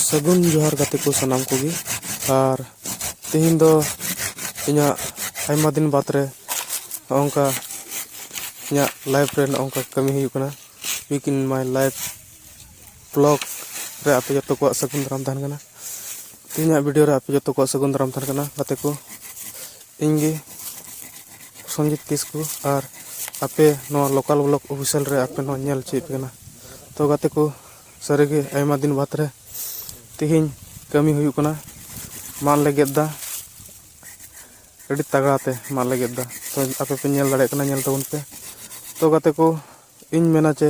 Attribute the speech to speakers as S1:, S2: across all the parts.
S1: ᱥᱟᱹᱜᱩᱱ ᱡᱚᱦᱟᱨ ᱜᱟᱛᱮ ᱠᱚ ᱥᱟᱱᱟᱢ ᱠᱚᱜᱮ ᱟᱨ ᱛᱮᱦᱮᱧ ᱫᱚ ᱤᱧᱟᱹᱜ ᱟᱭᱢᱟ ᱫᱤᱱ ᱵᱟᱫᱽ ᱨᱮ ᱱᱚᱜᱼᱚᱝᱠᱟ ᱤᱧᱟᱹᱜ ᱞᱟᱭᱤᱯᱷ ᱨᱮ ᱱᱚᱜᱼᱚᱝᱠᱟ ᱠᱟᱹᱢᱤ ᱦᱩᱭᱩᱜ ᱠᱟᱱᱟ week in my life blog ᱨᱮ ᱟᱯᱮ ᱡᱚᱛᱚ ᱠᱚᱣᱟᱜ ᱥᱟᱹᱜᱩᱱ ᱫᱟᱨᱟᱢ ᱛᱟᱦᱮᱱ ᱠᱟᱱᱟ ᱛᱮᱦᱮᱧᱟᱜ ᱵᱷᱤᱰᱤᱭᱳ ᱨᱮ ᱟᱯᱮ ᱡᱚᱛᱚ ᱠᱚᱣᱟᱜ ᱥᱟᱹᱜᱩᱱ ᱫᱟᱨᱟᱢ ᱛᱟᱦᱮᱱ ᱠᱟᱱᱟ ᱜᱟᱛᱮ ᱠᱚ ᱤᱧ ᱜᱮ ᱥᱚᱱᱡᱤᱛ ᱠᱤᱥᱠᱩ ᱟᱨ ᱟᱯᱮ ᱱᱚᱣᱟ ᱞᱳᱠᱟᱞ ᱵᱞᱚᱠ ᱚᱯᱷᱤᱥᱤᱭᱟᱞ ᱨᱮ ᱟᱯᱮ ᱱᱚᱣᱟ ᱧᱮᱞ ᱦᱚᱪᱚᱭᱮᱫ ᱯᱮ ᱠᱟᱱᱟ ᱛᱚ ᱜᱟᱛᱮ ᱠᱚ ᱥᱟᱹᱨᱤᱜᱮ ᱟᱭᱢᱟ ᱫᱤᱱ ᱵᱟᱫᱽ ᱨᱮ ᱛᱮᱦᱮᱧ ᱠᱟᱹᱢᱤ ᱦᱩᱭᱩᱜ ᱠᱟᱱᱟ ᱢᱟᱫ ᱞᱮ ᱜᱮᱫ ᱮᱫᱟ ᱟᱹᱰᱤ ᱛᱟᱜᱽᱲᱟ ᱛᱮ ᱢᱟᱫ ᱞᱮ ᱜᱮᱫ ᱮᱫᱟ ᱛᱚ ᱟᱯᱮ ᱯᱮ ᱧᱮᱞ ᱫᱟᱲᱮᱭᱟᱜ ᱠᱟᱱᱟ ᱧᱮᱞ ᱛᱟᱵᱚᱱ ᱯᱮ ᱛᱚ ᱜᱟᱛᱮ ᱠᱚ ᱤᱧ ᱢᱮᱱᱟ ᱡᱮ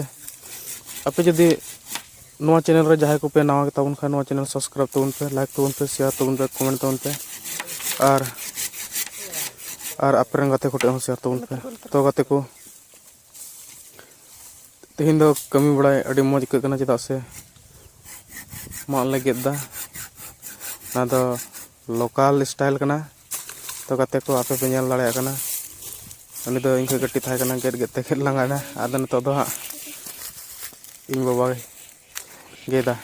S1: ᱟᱯᱮ ᱡᱩᱫᱤ ᱱᱚᱣᱟ ᱪᱮᱱᱮᱞ ᱨᱮ ᱡᱟᱦᱟᱸᱭ ᱠᱚᱯᱮ ᱱᱟᱣᱟ ᱜᱮᱛᱟ ᱵᱚᱱ ᱠᱷᱟᱱ ᱱᱚᱣᱟ ᱪᱮᱱᱮᱞ ᱥᱟᱵᱥᱠᱨᱟᱭᱤᱵ ᱛᱟᱵᱚᱱ ᱯᱮ ᱞᱟᱭᱤᱠ ᱛᱟᱵᱚᱱ ᱯᱮ ᱥᱮᱭᱟᱨ ᱛᱟᱵᱚᱱ ᱯᱮ ᱠᱚᱢᱮᱱᱴ ᱛᱟᱵᱚᱱ ᱯᱮ ᱟᱨ ᱟᱨ ᱟᱯᱮ ᱨᱮᱱ ᱜᱟᱛᱮ ᱠᱚᱴᱷᱮᱱ ᱦᱚᱸ ᱥᱮᱭᱟᱨ ᱛᱟᱵᱚᱱ ᱯᱮ ᱛᱚ ᱜᱟᱛᱮ ᱠᱚ ᱛᱮᱦᱮᱧ ᱫᱚ ᱠᱟᱹᱢᱤ ᱵᱟᱲᱟᱭ ᱟᱹᱰᱤ ᱢᱚᱡᱽ ᱟᱹᱭᱠᱟᱹᱜ ᱠᱟᱱᱟ ᱪᱮᱫᱟᱜ ᱥᱮ ᱢᱟᱜ ᱞᱮ ᱜᱮᱫ ᱮᱫᱟ ᱚᱱᱟ ᱫᱚ ᱞᱳᱠᱟᱞ ᱥᱴᱟᱭᱤᱞ ᱠᱟᱱᱟ ᱛᱚ ᱜᱟᱛᱮ ᱠᱚ ᱟᱯᱮ ᱯᱮ ᱧᱮᱞ ᱫᱟᱲᱮᱭᱟᱜ ᱠᱟᱱᱟ ᱩᱱᱤ ᱫᱚ ᱤᱧ ᱠᱷᱚᱡ ᱠᱟᱹᱴᱤᱡ ᱛᱟᱦᱮᱸ ᱠᱟᱱᱟ ᱜᱮᱫ ᱜᱮᱫ ᱛᱮ ᱜᱮᱫ ᱞᱟᱸᱜᱟᱭᱮᱱᱟ ᱟᱫᱚ ᱱᱤᱛᱚᱜ ᱫᱚ ᱦᱟᱸᱜ ᱤᱧ ᱵᱟᱵᱟ ᱜᱮᱫᱟ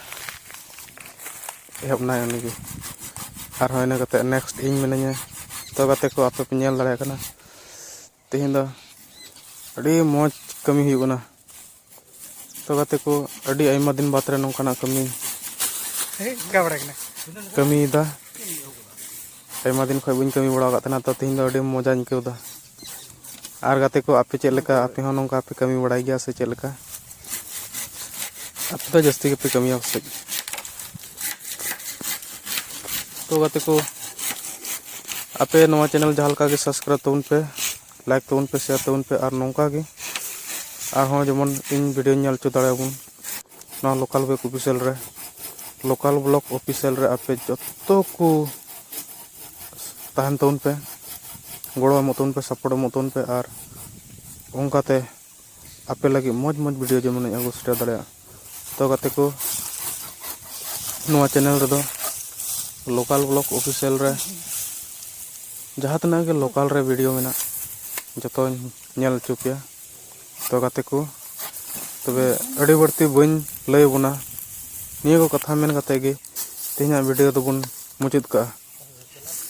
S1: ᱮᱦᱚᱵ ᱱᱟᱭ ᱩᱱᱤᱜᱮ ᱟᱨᱦᱚᱸ ᱤᱱᱟᱹ ᱠᱟᱛᱮᱫ ᱱᱮᱠᱥᱴ ᱤᱧ ᱢᱤᱱᱟᱹᱧᱟ ᱛᱚ ᱜᱟᱛᱮ ᱠᱚ ᱟᱯᱮ ᱯᱮ ᱧᱮᱞ ᱫᱟᱲᱮᱭᱟᱜ ᱠᱟᱱᱟ ᱛᱮᱦᱮᱧ ᱫᱚ ᱟᱹᱰᱤ ᱢᱚᱡᱽ ᱠᱟᱹᱢᱤ ᱦᱩᱭᱩᱜ ᱠᱟᱱᱟ ᱛᱚ ᱜᱟᱛᱮ ᱠᱚ ᱟᱹᱰᱤ ᱟᱭᱢᱟ ᱫᱤᱱ ᱵᱟᱫᱽ ᱨᱮ ᱱᱚᱝᱠᱟᱱᱟᱜ ᱠᱟᱹᱢᱤ ᱠᱟᱹᱢᱤᱭᱮᱫᱟ ᱟᱭᱢᱟ ᱫᱤᱱ ᱠᱷᱚᱱ ᱵᱟᱹᱧ ᱠᱟᱹᱢᱤ ᱵᱟᱲᱟ ᱟᱠᱟᱫ ᱛᱟᱦᱮᱱᱟ ᱛᱚ ᱛᱮᱦᱮᱧ ᱫᱚ ᱟᱹᱰᱤ ᱢᱚᱡᱟᱧ ᱟᱹᱭᱠᱟᱹᱣᱫᱟ ᱟᱨ ᱜᱟᱛᱮ ᱠᱚ ᱟᱯᱮ ᱪᱮᱫ ᱞᱮᱠᱟ ᱟᱯᱮ ᱦᱚᱸ ᱱᱚᱝᱠᱟ ᱯᱮ ᱠᱟᱹᱢᱤ ᱵᱟᱲᱟᱭ ᱜᱮᱭᱟ ᱥᱮ ᱪᱮᱫ ᱞᱮᱠᱟ ᱟᱯᱮ ᱫᱚ ᱡᱟᱹᱥᱛᱤ ᱜᱮᱯᱮ ᱠᱟᱹᱢᱤᱭᱟ ᱯᱟᱥᱮᱡ ᱛᱚ ᱜᱟᱛᱮ ᱠᱚ ᱟᱯᱮ ᱱᱚᱣᱟ ᱪᱮᱱᱮᱞ ᱡᱟᱦᱟᱸ ᱞᱮᱠᱟ ᱜᱮ ᱥᱟᱵᱥᱠᱨᱟᱭᱤᱵ ᱛᱟᱵᱚᱱ ᱯᱮ ᱞᱟᱭᱤᱠ ᱛᱟᱵᱚᱱ ᱯᱮ ᱥᱮᱭᱟᱨ ᱛᱟᱵᱚᱱ ᱯᱮ ᱟᱨ ᱱᱚᱝᱠᱟ ᱜᱮ ᱟᱨᱦᱚᱸ ᱡᱮᱢᱚᱱ ᱤᱧ ᱵᱷᱤᱰᱤᱭᱳ ᱧᱮᱞ ᱦᱚᱪᱚ ᱫᱟᱲᱮᱭᱟᱵᱚᱱ ᱱᱚᱣᱟ ᱞᱳᱠᱟᱞ ᱵᱮᱠ ᱚᱯᱷᱤᱥᱤᱭᱟᱞ ᱨᱮ ᱞᱳᱠᱟᱞ ᱵᱞᱚᱠ ᱚᱯᱷᱤᱥᱤᱭᱟᱞ ᱨᱮ ᱟᱯᱮ ᱡᱚᱛᱚ ᱠᱚ ᱛᱟᱦᱮᱱ ᱛᱟᱵᱚᱱ ᱯᱮ ᱜᱚᱲᱚ ᱮᱢᱚᱜ ᱛᱟᱵᱚᱱ ᱯᱮ ᱥᱟᱯᱳᱨᱴ ᱮᱢᱚᱜ ᱛᱟᱵᱚᱱ ᱯᱮ ᱟᱨ ᱚᱱᱠᱟᱛᱮ ᱟᱯᱮ ᱞᱟᱹᱜᱤᱫ ᱢᱚᱡᱽ ᱢᱚᱡᱽ ᱵᱷᱤᱰᱤᱭᱳ ᱡᱮᱢᱚᱱᱤᱧ ᱟᱹᱜᱩ ᱥᱮᱴᱮᱨ ᱫᱟᱲᱮᱭᱟᱜ ᱛᱚ ᱜᱟᱛᱮ ᱠᱚ ᱱᱚᱣᱟ ᱪᱮᱱᱮᱞ ᱨᱮᱫᱚ ᱞᱳᱠᱟᱞ ᱵᱞᱚᱜ ᱚᱯᱷᱤᱥᱤᱭᱟᱞ ᱨᱮ ᱡᱟᱦᱟᱸ ᱛᱤᱱᱟᱹᱜ ᱜᱮ ᱞᱳᱠᱟᱞ ᱨᱮ ᱵᱷᱤᱰᱤᱭᱳ ᱢᱮᱱᱟᱜ ᱡᱚᱛᱚᱧ ᱧᱮᱞ ᱦᱚᱪᱚ ᱯᱮᱭᱟ ᱛᱚ ᱜᱟᱛᱮ ᱠᱚ ᱛᱚᱵᱮ ᱟᱹᱰᱤ ᱵᱟᱹᱲᱛᱤ ᱵᱟᱹᱧ ᱞᱟᱹᱭ ᱟᱵᱚᱱᱟ ᱱᱤᱭᱟᱹ ᱠᱚ ᱠᱟᱛᱷᱟ ᱢᱮᱱ ᱠᱟᱛᱮ ᱜᱮ ᱛᱮᱦᱮᱧᱟᱜ ᱵᱷᱤᱰᱤᱭᱳ ᱫᱚᱵᱚᱱ ᱢᱩᱪᱟᱹᱫ ᱠᱟᱜᱼᱟ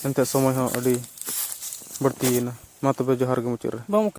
S1: ᱮᱱᱛᱮ ᱥᱚᱢᱚᱭ ᱦᱚᱸ ᱟᱹᱰᱤ ᱵᱟᱹᱲᱛᱤᱭᱮᱱᱟ ᱢᱟ ᱛᱚᱵᱮ ᱡᱚᱦᱟᱨ ᱜᱮ ᱢᱩᱪᱟᱹᱫ ᱨᱮ